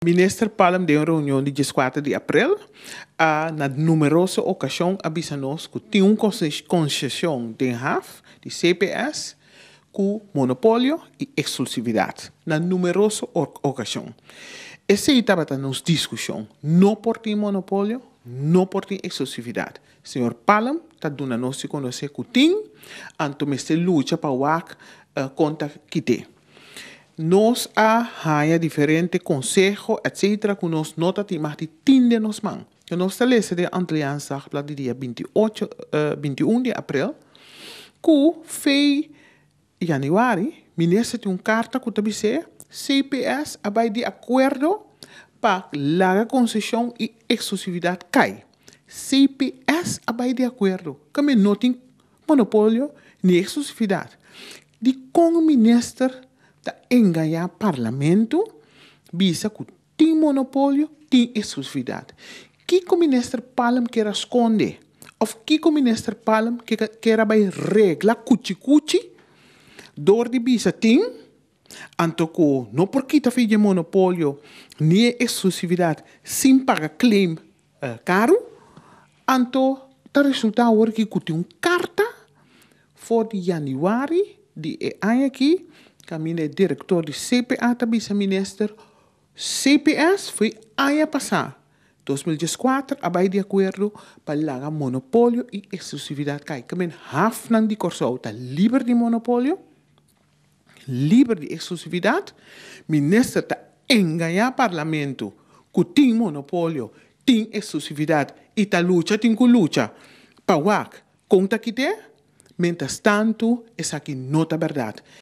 Minister Palm den un reunion di dieskuater di aprel a na numeroso okashon a bisa nos ku tin un konsesion den haf di CPS ku monopolio i eksklusividat na numeroso okashon. Esei tabata nos diskushon, no por tin monopolio, no por tin eksklusividat. Señor Palm ta duna nos di konosé ku tin, anto mester lucha pa wak konta kité. Nos a haña diferente konseho etc ku nos no ta tin mas di tin den nos man. Ku nos ta lesa den Antilliaans Dagblad di dia binti ocho, binti un di aprel, ku fei yanüari, minister tin un karta ku ta bis'é cps a bai di akuerdo pa laga konseshon i eksklusividat kai. Cps a bai di akuerdo, ka mi no tin. Monopolio di exclusividad. Dicon minister ta engaña parlamento bisa cu tin monopolio, tin exclusividad? Kico minister Palm kier a sconde of kico minister Palm kier a bay regla cuchi cuchi door di bisa tin anto cu no por kita fin dje monopolio ni e exclusividad sin paga claim karu, anto ta resultá awor aki ku tin un karta for di yanüari di e aña aki, kaminda e direktor di CPA ta bisa minister, CPS for e aña pasá, dos mil dies kuater, a bai di akuerdo pa laga monopolio i eksklusividat kai. Ke men hafnan di Kòrsou ta liber di monopolio. Liber di eksklusividat, minister ta engañá parlamentu ku tin monopolio, tin eksklusividat i ta lucha tin ku lucha pa wak kon ta kit'é. Mentres tantu esaki no ta bèrdat.